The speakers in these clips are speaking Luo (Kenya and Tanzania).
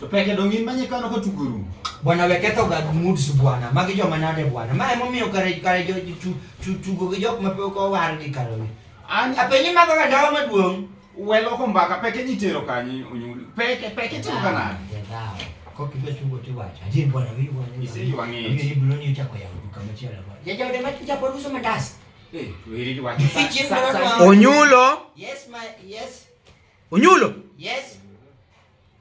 To peke dongi manye kano ko tuguru. Bwana weketho ga moods bwana. Magi joma nade bwana. Ma emo miyo kare kare jo tu tu tugo gi jok mape ko war gi kare. An apenyi mago ga dawa maduong. Welo ko mbaka peke ni tero kanyi unyuli. Peke peke tero kana. Ko kibe tugo ti wacha. Je bwana wi bwana. Ise yuangi. Ni bulo ni chako ya duka machela bwana. Ya jode machi chapo ruso mandas. Eh, wiri wacha. Onyulo. Yes my yes. Onyulo. Yes.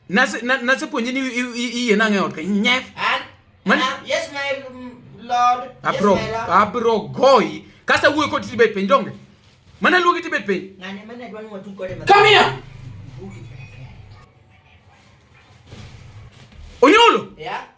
Nase na, nase puonje ni iye na ngeot ka nyef. An man uh, yes my mm, lord. Abro yes, my lord. abro goy. Kasa wuoyo kod tibet piny donge. Mana luogi tibet piny. Ngane mana dwan mo tuko de. Come here. Onyolo. Yeah.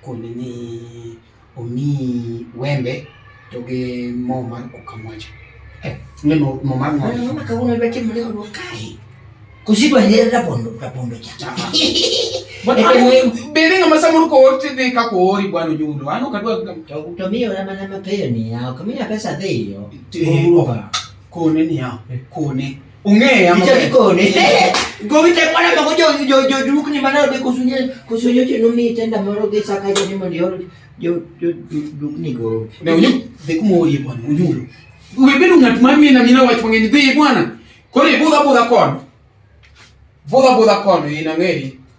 Koni ni omiyi wembe to gi mo mar kukamwacha. Eh, ni mo mo mar ng'o. Mama kawuono dwa timo leo dwa kae. Kusidwa hera rabondo rabondo cha. Bende ng'ama samoro koor tidhi ka koori bwana onyulo. Ano kadwa to to miyo na mana mapiyo ni ya. Kamiya pesa dhiyo. Kone ni ya. Kone. Ung'eya ma. Ichaki kone. Gowi te mwana ma jo jo jo duk ni mana de kusunye kusunye che no mi tenda moro ge saka jo ni mo yo jo jo duk ni go. Ne unyu de kumo yi bwana unyu. Ubebedu ngat mami na mina wach mangeni de bwana. Kore boda boda kon. Boda boda kon ina ngeri.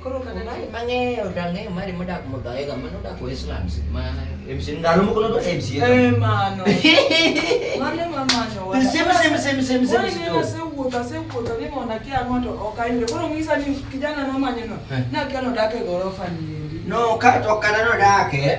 Koro kata na mang'eyo dang'eyo mari modak modhaega mano odak Westlands ma MC ndalo moko nodo MC. Eh mano. Mane ma mano. Sema sema sema sema sema. Wewe ndio asewuotho asewuotho ni mondo akia ng'ato ok ayudo. Koro ng'isa ni kijana no manyo no. Eh. Na kia nodake gorofa ni. No, ka to kana nodake.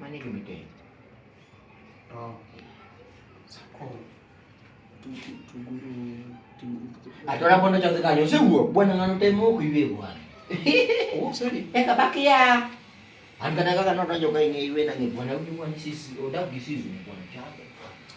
Mane gima itedo? Atona bondo cha kanyo sewuok bwana ng'ano temo ok iwe bwana. Oh, sorry. Eka bakia. An kata kaka nodonjo ka ing'e iwe nang'e bwana uji bwana sisi odak gi sisi bwana chako.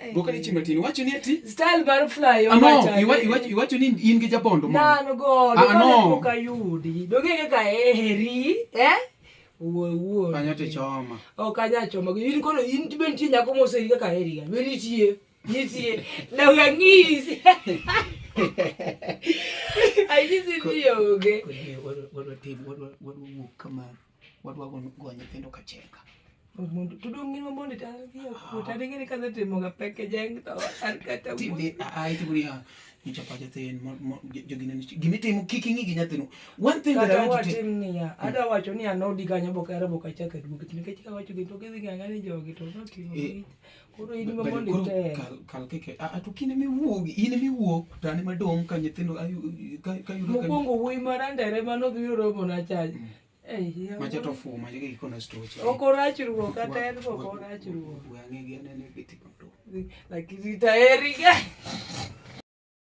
Eh. Goka ni chimatini wacho ni ati style bar fly on ah, no iwacho iwacho iwacho ni in gi jabondo mo na no go do ah, no ka yudi do ge ka eheri eh wuo wuo kanyo te choma o kanya choma in kono in tiben ti nyako mo sei ka eheri ga beni tie nitie na wangisi ai nisi ndio ge wadu wadu wadu wadu wadu kama wadwa go nyithindo ka cheka mondo to dong' ngima mondo otadigi ni kase timoga peke jeng to an kata ai to guria nyicha pacha tin jogi ne gimi timo kik ing'i gi nyathino one thing that i want to tell niya hmm. ada wacho ni anodi kanyo boka era boka chaka duogo nikech ka wacho gi to gidhi ng'ang'a ni jogi to notimo eh. koro in ma mondo item kal kal keke a a to kine mi wuog in mi wuog tani madong ka nyithindo ayu ka ka yudo ka mokwongo wuoyi marandere mano dhi romo na chaj macha to fu macha ki kono stoch ok orach ruok kata en ok orach ruok wang'e gi anene biti lakini taeri ga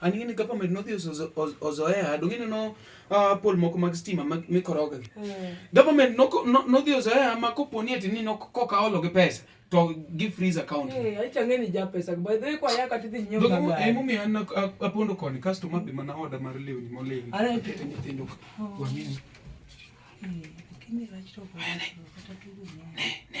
An ing'e ni government nodhi ozoea, donge ineno uh, pol moko mag stima mikoroga gi. Hmm. Government nodhi ozoea ma kopo ni ati ni koka olo gi pesa to gi freeze account. Eh, acha ng'e ni ja pesa. By the way kwa yaka tidhi nyiew gari. Donge eh, mumi an apondo koni kasto mabe mana order mar lewni molewni. Ara kete nyithindo. Oh. Wamini. Eh, lakini rach to. Ne, ne.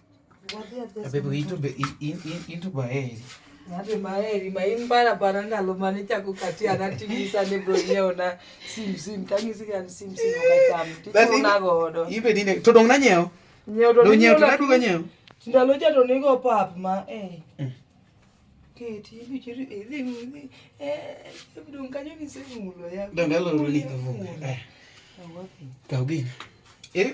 Ati maeri maimbara pana nalo mane chako kati anatingisa ne bro nyeo na sim sim kangisi kan sim sim okacham tiko na godo. Ibe nine to dong na nyeo. Nyeo to nyeo to naduga nyeo. Ndalo cha to nigo pap ma eh. Mm. Keti ibi chiri ibi ibi eh bro nganyo ni semu mulo ya. Ndalo ni kavu. Eh. Kaugin. Eh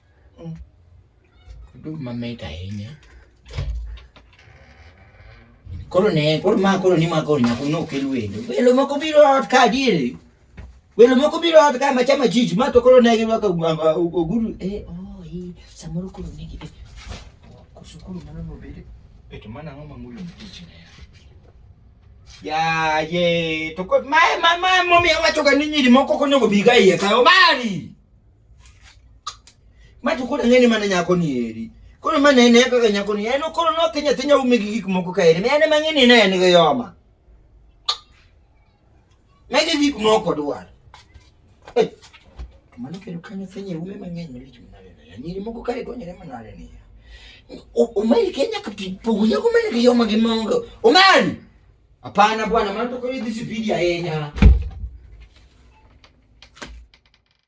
Mm. Oduma mit ahinya. Koro ne, koro ma koro ni ma koro nyako no kel wendo. Welo moko biro ot ka diere. Welo moko biro ot ka ma chama jiji ma to koro ne gi waka oguru eh oh eh samoro koro ne gi. Koso koro mano no bede. Eto mana ngoma mulo mtichi ne. Ya ye, to ko ma ma ma momi awacho ga ni nyiri moko konego biga iye ka omari. ma to koro ang'eni mana nyako ni eri koro ma ne ne kaka nyako ni en koro no tinya tinya ume gi gik moko ka eri en mang'e ni ne en gi yoma ne gi gik moko dwar eh mano kendo kanyo tinya ume mang'eny lich manare ne nyiri moko ka edwa nyere manare ni umari kenya kapipogo nyako mane gi yoma gi mongo umari hapana bwana maana toko hizi sipidi ya enya